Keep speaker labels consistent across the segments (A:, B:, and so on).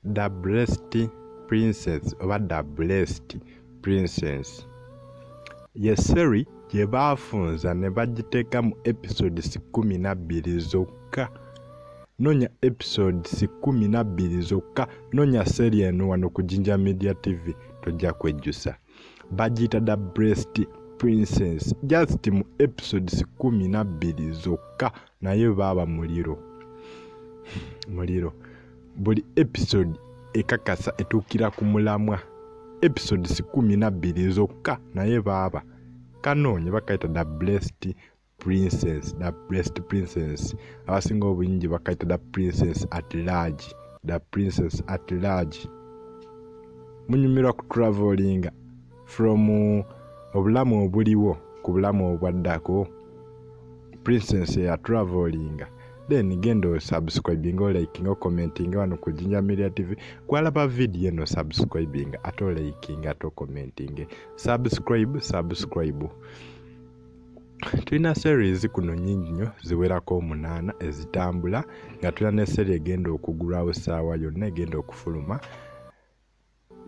A: the blessed princess oba the blessed princess ye seri gye baafunza ne bagiteeka mu episodes kumi na bbiri zokka nonya episodes kumi na bbiri zokka nonya seri eno wano ku jinja media tv tojja kwejjusa bagiyita da breast princess just mu episodes kumi nabbiri zokka naye baaba muliro muliro buli episode ekakasa etuukira ku mulamwa episodes kumi nabbiri zokka naye baaba kanoonye bakayita da breast princess the blessed princess abasinga obungi bakayita the princess at large the princess at large munyumirwa ku traveling from uh, obulamu obuliwo ku bulamu obwaddako princess ya traveling then genda osubscribinga olikinga okomentinga wano ku jinja media tv kwalaba vidiyo eno subscribinga ate olikinga ate okomentinge subscribe subscribe tulina series kuno nyingi nnyo ziwerako omunaana ezitambula nga tulina ne seri egenda okugulwawo saawa yonna egenda okufuluma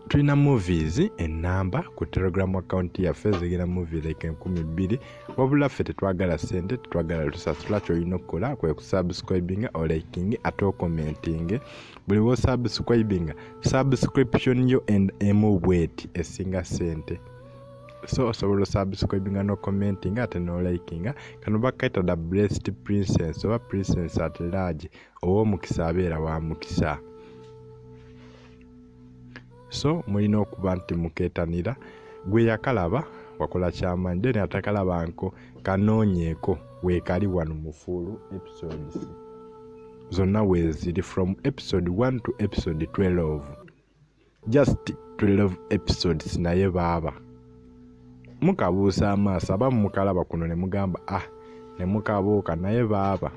A: tulina movies enamba ku telegram account yaffe zigenda movie like enkumi bbiri wabula ffe tetwagala sente tetwagala tusasula kyolina okukola kwe kusubscribinga oliking ate okomenting buli wosubscribinga subscription yo and emu bweti esinga sente so osobola osubscribinga no commentinga ate no likinga kano bakayita the blessed princess oba princess at large ow'omukisa abeera wa mukisa so mulina okuba nti muketanira gwe yakalaba wakola kyamanyi then atakalaba nko kanoonyeeko weekali wano mufuulu episodes zonna weeziri from episode 1 to episode 12 just 12 episodes naye baaba mukabuusa amaaso aba mukalaba kuno ne mugamba ah ne mukabuuka naye baaba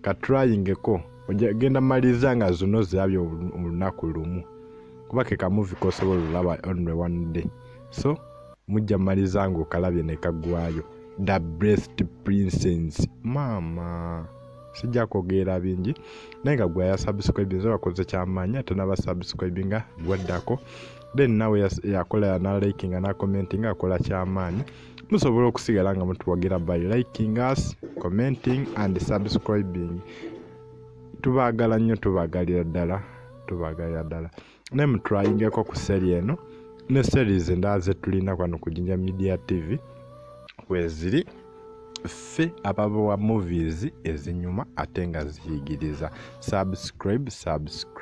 A: katrayingeko ogenda maliriza nga zino zirabye olunaku lumu kuba ke kamuvi kosobola olulaba only one day so mujja maliriza nga okalabye ne kaggwayo the breast princess maama sijja kwogeera bingi naye nga gwe yasubscribe nze bakoze kyamaanyi ate naba subscribe nga gwaddako then nawe yakola yanalike nga nakomenti nga akola kyamaanyi musobola okusigala nga mutuwagira by liking us commenting and subscribing tubaagala nnyo tubaagalira ddala tubaagalira ddala ne mutwayingeko ku seri eno ne series endala zetulina kwano ku jinja media tv weziri ffe ababawa movies ezinyuma ate nga ziyigiriza subscribe subscribe